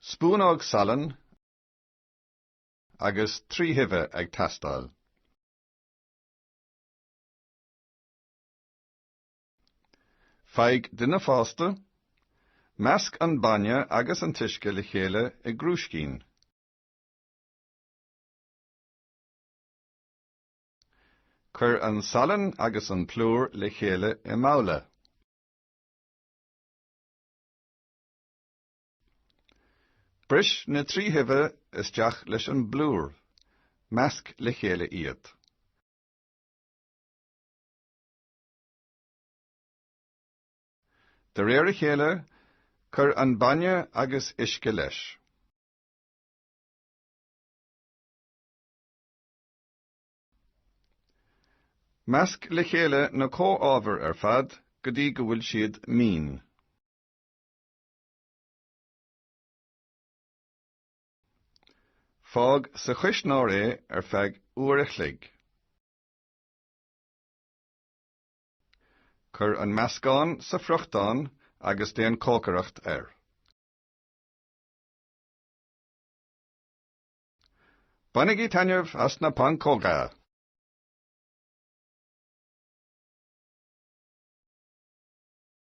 spúnóg salainn agus trí huibhe ag teastáil. Faigh duine fásta, measc an bainne agus an t-uisce le chéile i gcrúiscín. Cuir an salann agus an plúr le chéile i mbabhla. Bris na trí huibhe isteach leis an bplúr. Measc le chéile iad. De réir a chéile, cuir an bainne agus uisce leis. Measc le chéile na comhábhair ar fad go dtí go bhfuil siad mín. Fág sa chuisneoir é ar feadh uair a chloig. Cuir an meascán sa friochtán agus déan cócaireacht air. Bainigí taitneamh as na pancóga!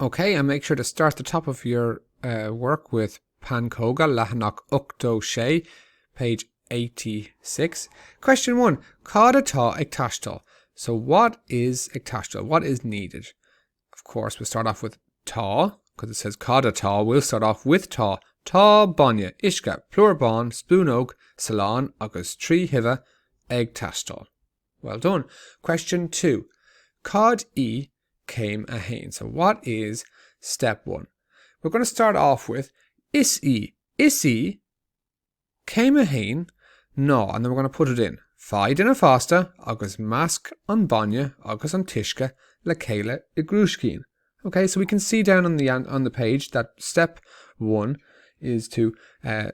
OK and make sure to start the top of your eh work with pancóga, leathanach ochtó sé, page eighty six. Question one, Cad atá ag taisteal? So what is ag taisteal? What is needed? Of course, we'll start off with tá, because it says cad atá, we'll start off with tá. Tá bainne, uisce, plúr bán, spúnóg, salán agus trí huibhe ag taisteal. Well done. Question two, Cad í Céim 1 So what is step one? We're going to start off with Is í Is í Céim 1 ná and then we're going to put it in. Faigh duine fásta agus measc an bainne agus an t-uisce le chéile i gcrúiscín. Okay, so we can see down on the on the page that step one is to uh,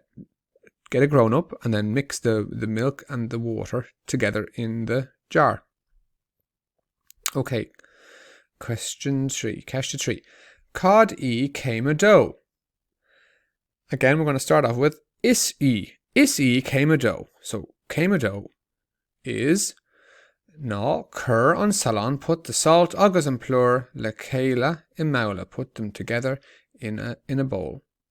get a grown up and then mix the, the milk and the water together in the jar. OK. Question 3. Ceist 3. Cad í céim 2? Again, we're going to start off with is í. Is í céim 2. So, céim 2 is ná cur an salann put the salt agus an plúr le chéile i mbabhla put them together in a, in a bowl.